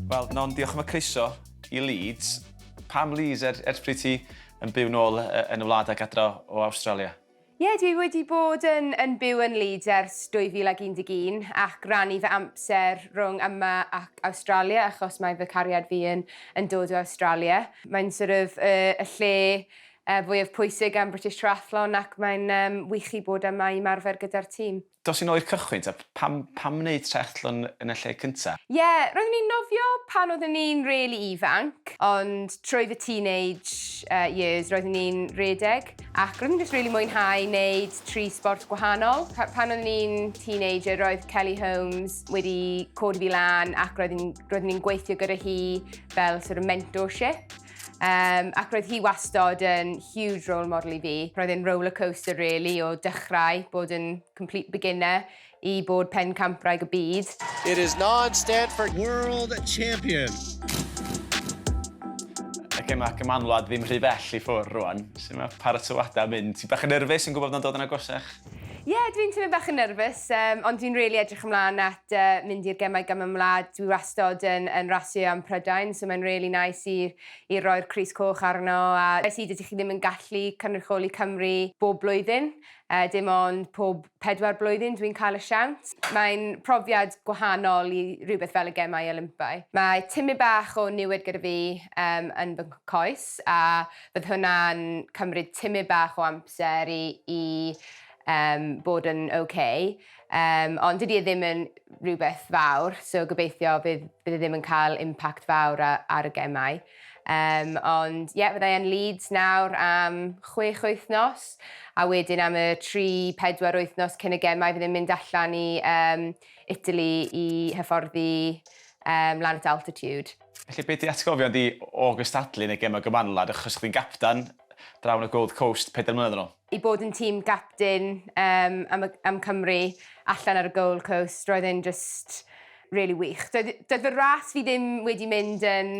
Wel, Non, diolch am y croeso i Leeds. Pam Leeds, er, ers pryd ti yn byw nôl yn y wlad ac adra o Awstralia? Ie, dwi wedi bod yn yn byw yn Leeds ers 2011 ac rannu fy amser rhwng yma ac Awstralia achos mae fy cariad fi yn yn dod o Awstralia. Mae'n sort of y y lle y fwyaf pwysig am British Triathlon ac mae'n yym wych i bod yma i ymarfer gyda'r tîm. Dos yn ôl i'r cychwyn ta? Pam, pam wneud triathlon yn y lle cynta? Ie, roeddwn i'n nofio pan oeddwn i'n rili ifanc, ond trwy fy teenage yy years roeddwn i'n rhedeg, ac roeddwn i'n jyst rili mwynhau neud tri sbort gwahanol. Pa- pan oeddwn i'n teenager roedd Kelly Holmes wedi codi fi lan ac roedd i'n roeddwn i'n gweithio gyda hi fel sort of mentorship. Um, ac roedd hi wastod yn huge role model i fi. Roedd e'n roller coaster really o dechrau bod yn complete beginner i bod pen campraig y byd. It is non-Stanford World Champion. Ac yma cymanwlad ddim rhy bell i ffwrdd rwan. Sut mae paratoadau mynd? Ti bach yn nerfus yn gwybod bod yn dod yn agosach? Ie, yeah, dwi'n teimlo bach yn nerfus, um, ond dwi'n really edrych ymlaen at uh, mynd i'r gemau gam ymlaen. Dwi wastod yn, yn rasio am Prydain, so mae'n really nice i, i roi'r Cris Coch arno. A es i dydych chi ddim yn gallu cynrychioli Cymru bob blwyddyn, uh, dim ond pob pedwar blwyddyn dwi'n cael y siawns. Mae'n profiad gwahanol i rhywbeth fel y gemau Olympau. Mae timau bach o niwed gyda fi um, yn fy coes, a Bydd hwnna'n cymryd timyn bach o amser i i yym bod yn ok yym ond dydi e ddim yn rhywbeth fawr so gobeithio bydd bydd e ddim yn cael impact fawr a- ar y gemau. Yym ond ie fydda i yn Leeds nawr am chwech wythnos a wedyn am y tri pedwar wythnos cyn y gemau fydd e'n mynd allan i yym Italy i hyfforddi yym lan at altitude. Felly be' 'di atgofion di o gystadlu yn y gema gymanwlad achos chdi'n gapten draw yn y Gold Coast pedair mlynedd yn ôl? I bod yn tîm gapten yym am y am Cymru allan ar y Gold Coast roedd e'n jyst rili wych. Doedd doedd fy ras fi ddim wedi mynd yn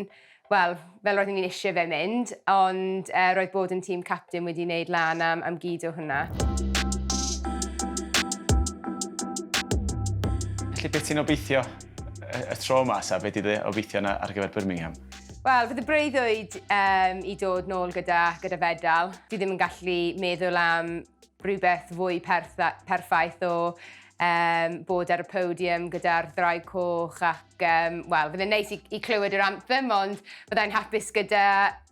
wel fel roeddwn i'n isie fe mynd ond yy roedd bod yn tîm capten wedi neud lan am am gyd o hwnna. Felly be' ti'n obeithio y tro yma, Saf, beth ydy obeithio yna ar gyfer Birmingham? Wel, fydd y breuddwyd um, i dod nôl gyda, gyda fedal. Fi ddim yn gallu meddwl am rhywbeth fwy pertha, perffaith o um, bod ar y podium gyda'r ddraig coch ac, um, wel, fydde'n neis i, i clywed yr anthem, ond byddai'n hapus gyda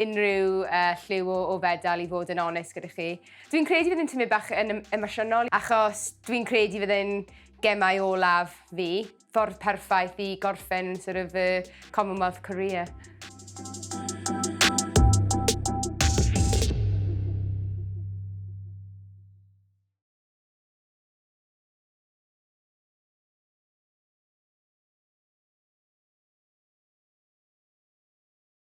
unrhyw uh, lliw o, o fedal i fod yn onest gyda chi. Dwi'n credu fydde'n tymud bach yn emosiynol, achos dwi'n credu fydde'n Gemau olaf fi, ffordd perffaith i gorffen sort of fy Commonwealth career.